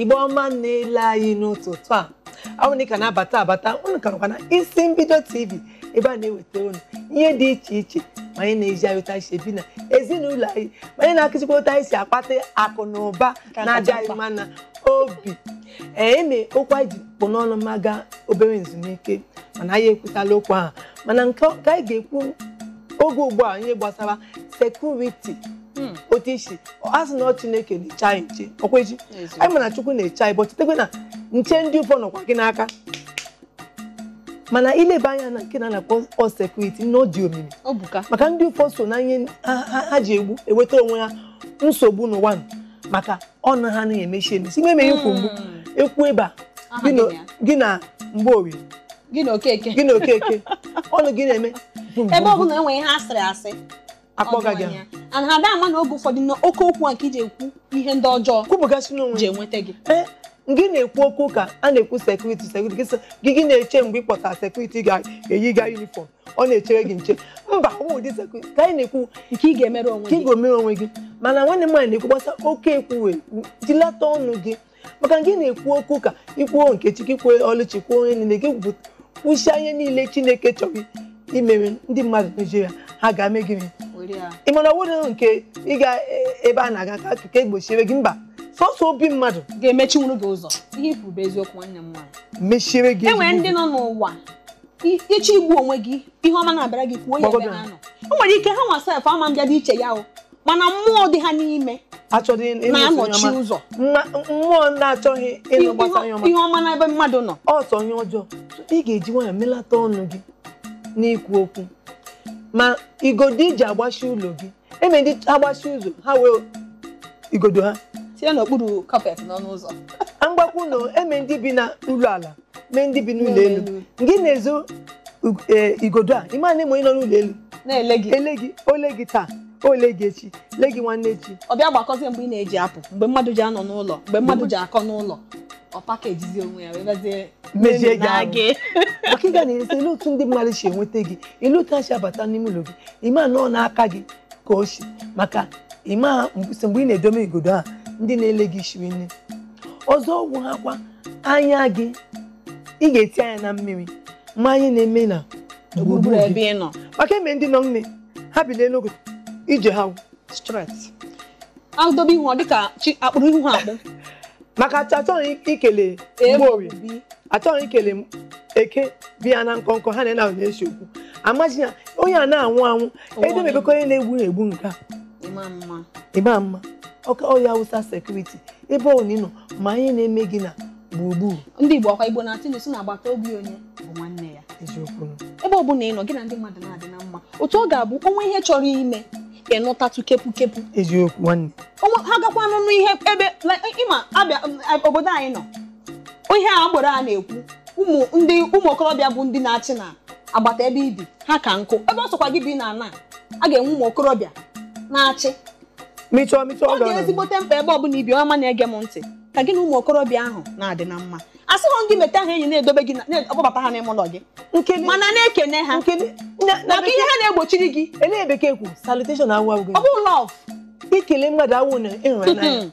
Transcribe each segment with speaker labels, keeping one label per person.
Speaker 1: igbo ọma na-ele anyị n'ụtụtụ a ọ wụ na ị ka na-abata abata unu ka nọkwa na isi mbido tv ebe a na-eweta unu ihe dị iche iche ma ihe na-ezi anyị otu anyị si ebi na ezinụlọ anyị ma ihe na-akụzikwa otu anyị si akpata akụ na ụba na-adị anyị mma na obi e nwere okwu anyị ji kpụ n'ọnụ ma gaa obere nzumike mana anyị ekwutala okwu ahụ mana nke anyị ga-ekwu oge ugbu a ihe gbasara sekuriti otu i si a sị na ọ chineke na-eche anyị nche ọkwa echi anyị mana chukwu na-eche anyị but chetakwa na nche ndị ụfọ nọkwa gị n'aka mana ileba anya na nke a na-akpọ sekuriti na ọ dị omimi maka ndị ụfọ so na ihe ha ji egbu eweta onwe ha nsogbu n'ụwa maka ọnụ ha anaghị emechi emechi ime eme ikwu mgbu ekwu ebe a gị na mgborie
Speaker 2: gị na okeke
Speaker 1: ọnụ gị na-eme ebe ọ bụla e
Speaker 2: nwee ihe asịrị a sị akpọga gị
Speaker 1: and ha ada ama na
Speaker 2: oge ụfọdụ na oke okwu a ka e ji ekwu ihe ndị ọjọọ kwupụgasị n'ọnụ e ji enweta gị gị na-ekwu
Speaker 1: okwu ka a na-ekwu sekuriti gị gị na-eche mgbe ị kpọtara sekuriti ga-eyi ga yunifọm ọ na-echere gị nche mba ọ bụ ụdị sekuriti ka anyị na-ekwu nke ị
Speaker 2: ga-emere onwe gị mana nwanne m nwaanyị na-ekwu
Speaker 1: gbasa oke ekwu wee jilata ọnụ gị maka gị na-ekwu okwu ka i kwuo nkechi kwuo oluchi kwuo onye niile gị kwusịa ihe niile chineke chọrọ imere ndị mmadụ na-ejiri ya ha ga-eme gị ị ma na ọ wụrụ nke ị ga ebe a na-aga ka akụkọ egbochiere gị mba sọsọ obi mmadụ ga-emechinwuru gị
Speaker 2: ụzọ ihe i kwuru bụ eziokwu nwanne m nwaanyị mechiere gị e nwere
Speaker 1: ndị nọ n'ụwa
Speaker 2: ị chọ igbu onwe gị ihe ọma na-abịara gị kwuo ya ebe ha nọ o nwere ike ha nwa sef ama mbịa dị iche ya o mana mmụọ dị ha n'ime na-anọchi ụzọ
Speaker 1: mmụọ na-achọghị ịnụ gbasa ihe ọma n'ebe mmadụ
Speaker 2: nọ ọ sọ ihe ọjọọ
Speaker 1: ị ga-eji nwayọ melata ọnụ gị n'ikwu okwu ma igodo i ji agbachi ụlọ gị e nwere ndị agbachi ụzọ ha wee igodo ha tinye n'okpuru
Speaker 2: kapet n'ọnụ ụzọ mgbakwu na
Speaker 1: e nwere ndị bi na ụlọ ala nwee ndị bi n'ụlọ elu gị na-ezo igodo a ịma na onye nọ n'ụlọ elu na-ele
Speaker 2: gị o lee gị
Speaker 1: taa o lee gị echi lee gị nwanne echi ọ bịa gbakọzie mgbe ị
Speaker 2: na-eji apụ mgbe mmadụ ji anọ n'ụlọ mgbe mmadụ ji akọ n'ụlọ ọ pakejizi onwe ya wee bịazie mejie gị
Speaker 1: maka ị ga na-asị olee otu ndị mmadụ si enweta gị olee otu ha si abata n'ime ụlọ gị ịma na ọ n'aka gị ka o si maka ịma mgbe ị na-edome igodo a ndị na-ele gị shiri nne ọzọ wụ ha kwa anya gị ị ga-eti anya na mmiri ma ihe na-eme na gburugburu ebe
Speaker 2: ị nọ maka e nwere ndị nọ
Speaker 1: nne ha bilie na-aga ije ha stret
Speaker 2: adobe ihu ọ dịka a kpụrụ ihu ha akpụ maka achọghị
Speaker 1: ikele mgborie achọghị ikele eke bi ya na nkọnkọ ha na-ese okwu amaghị ya onye a na-anwụ anwụ edemebekọ onye na-egbu egbu nke a ịma mma ọka ọya awụsa sekuriti ebe ọ nọ ma ihe na-eme gị na gburugburu ndị Igbo ọkwa
Speaker 2: Igbo na-atụ na-asị na agbata obi onye bụ nwanne ya eziokwu ebe
Speaker 1: ọ bụla ị nọ gị
Speaker 2: na ndị mmadụ na-adị na mma otu ọ ga-abụ o nwee ihe chọrọ ime ị nụtatụ kepu kepu eziokwu nwanne
Speaker 1: onwe ha gakwa
Speaker 2: n'ọnụ ihe ebe ị ma a bịa obodo anyị nọ ihe agboro a na-ekwu ụmụ ndị ụmụ okorobịa bụ ndị na-achị na agbata ebe i bi ha ka nkụ ebe ọ sọkwa gị bi n'ana a ga-enwe ụmụ okorobịa na-achị mịchọọ mịchọọ ọ dị ezigbote mkpa ebe ọ bụla i bi ọma na-ege m ntị ka gị na ụmụ okorobịa ahụ na-adị na mma asịghọ gị meta ha enyi na-edobe gị na-akpọbata ha n'ime ụlọ gị mana na-ekene ha maka ihe ha na-egbochiri gị elee bekee kwu
Speaker 1: salutation awụ awụ ọ bụ
Speaker 2: love ikele
Speaker 1: mmadụ awụ na ịhụnanya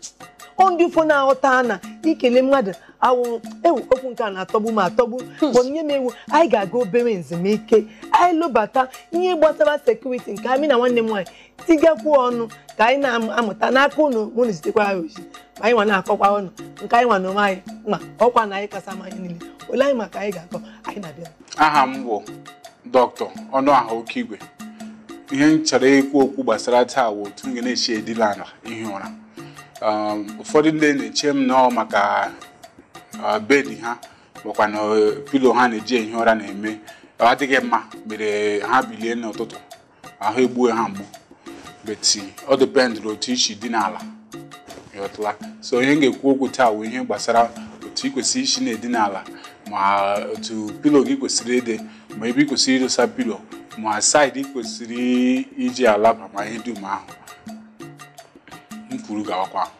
Speaker 1: ọ ndị ụfọ na-aghọta na ikele mmadụ awụ ewu okwu nke a na-atọgbu m atọgbu hmm. bunye m ewu anyị ga-aga obere ezumike anyị lọbata ihe gbasara security nke a mụ na nwanne m nwaanyị tigakwuo ọnụ ka anyị na-amụta n'aka ụnụ ụnụ na-ezitekwara anyị ozi ma anyị nwa na-akọkwa ụnụ nke anyị ma n'onwe anyị ma ọkwa na anyị kasa ma anyị niile ole anyị ma ka anyị ga-akọ anyị na-abịa aha m wụ
Speaker 3: doctor Ọnụaha Okeigwe ihe m chọrọ ikwu okwu gbasara taa wụ otu ị ga na-esi edina ala ihi ụra um, ụfọdụ ndị na-eche na ọ maka uh, bed ha ma ọ kwanụ uh, pillow ha na-eji ehi ụra na-eme ọ adịghị mma mere ha bilie n'ụtụtụ ahụ egbue ha mgbu but ọ depend n'otu i si dina ala ị ghọtala so ihe m ga-ekwu okwu taa wụ ihe gbasara otu ị kwesịrị isi na-edina ala ma otu pillow gị kwesịrị ịdị ma ebe ị kwesịrị idosa pillow ma side ị kwesịrị iji alaba ma ihe dum ahụ m kwuru gawakwa ahụ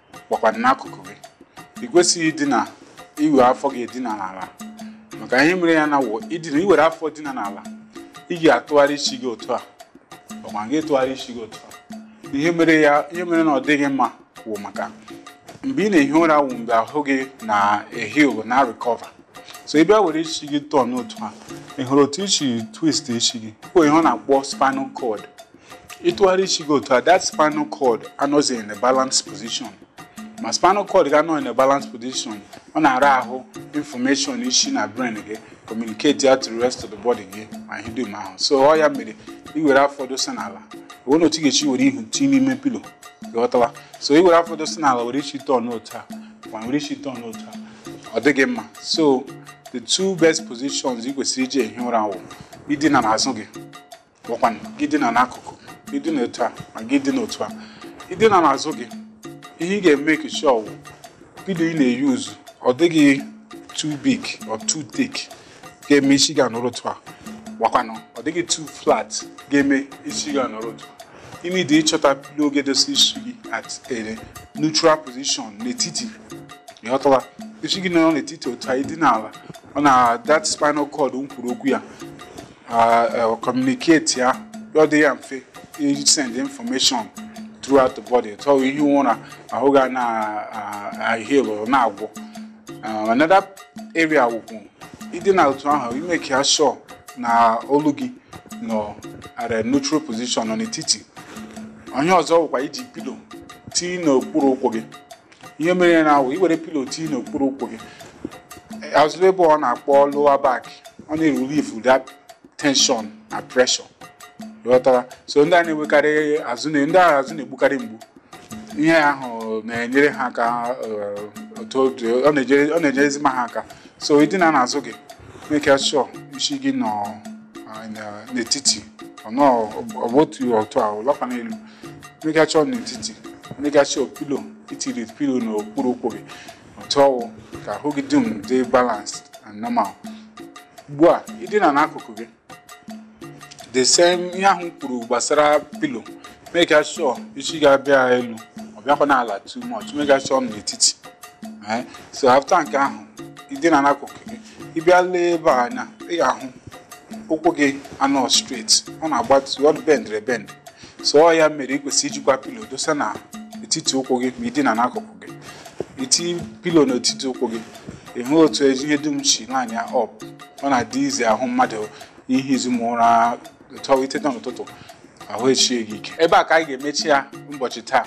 Speaker 3: ọkwa n'akụkụ gị ị kwesịghị idina iwere afọ gị dina n'ala maka ihe mere ya na wụ i dina i were afọ dina n'ala ị ga-atụgharị isi gị otu a ọkwa gị tụgharị isi gị otu a ihe mere ya ihe mere na ọ dịghị mma wụ maka mgbe ị na-ehi ụra wụ mgbe ahụ gị na-eheal na recover so ị bịa were isi gị turn otu a ị hụrụ otu i si twist isi gị ọ wụ ihe a na-akpọ spinal cord ị tụgharịa isi gị otu a that spinal cord anọzighị in a balanced position ma spinal cord gị anọghị in a balanced position ọ na-ara ahụ information isi na brain gị communicate ya to the rest of the body gị ma ihe dum ahụ so ọ ya mere i were afọ dosa n'ala o nweghị otu ị ga-esi were ihu tinye n'ime pillow ị ghọtala so i were afọ dosa n'ala were isi turn otu a ma were isi turn otu a ọ dịghị mma so the two best positions ị kwesịrị iji ehi ụra wụ idina n'azụ gị wụkwanụ gị dina n'akụkụ gị dina etu a ma gị dina otu a ị dina n'azụ gị ihe ị ga-emake sure wụ pilo ị na-euse ọ dịghị too big or too thick ga-eme isi gị anọrọ otu a ọ wụkwanụ ọ dịghị too flat ga-eme isi gị anọrọ otu a ị need ịchọta pilo ga-edosa isi gị at a neutral position n'etiti ịghọtala isi gị nọrọ n'etiti otu a ị dina ala ọ na that spinal cord m kwuru okwu ya communicate ya ọ dị ya mfe isend information throughout the body so ihie ụra ahụ ga na-aheal na-agwọ another area wụkwu ị dina otu ahụ ị make ya sure na olu gị nọ at a neutral position nọ n'etiti ihe ọzọ wụkwa iji pilo tii n'okpuru ụkwụ gị ihe mere ya na-awụ iwere pilo tii n'okpuru ụkwụ gị azụ ebe a na-akpọ lower back ọ na-erelieve that tension na pressure ghọtara so ndị a na-enwekarị azụ na ndị ahụ azụ na-egbukarị mgbu ihe ahụ na-enyere ha aka eh, otu ọ dị- ọ na-enyere ọ na-enyere ezigbo ha aka so ị dina n'azụ gị make sure isi gị nọ ah, na- n'etiti ọ nọ ọ bụ otu otu a ọlọkwa n'elu make sure ọ n'etiti make sure pilo i tiri pilo n'okpuru ụkwụ gị otu ọ wụ ka ahụ gị dum dị balanced and normal ugbu a ị dina n'akụkụ gị the same ihe ahụ kwuru gbasara pilo make sure isi gị abịa elu ọ bịakwa n'ala too much make sure ọ n'etiti eh, so after nke ahụ ị dina n'akụkụ gị ị bịa lee ebe a anya ị ga-ahụ ụkwụ gị anọ straight ọ na-agbatu ọ bendere bend so ọ ya mere ị kwesịrị ijikwa pilo dosa na etiti ụkwụ gị ma ị dina n'akụkụ gị iti pilo n'etiti ụkwụ gị ị hụ otu ihe dum si line ya up ọ na-adị easy ahụ mmadụ ihi ezigbo ụra so i teta n'ụtụtụ ahụ esie gị ike ebe a ka anyị ga-emechi ya ụbọchị taa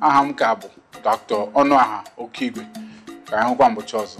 Speaker 3: aha m ka bụ dr ọnụaha okeigwe ka anyị hụkwa mbọchị ọzọ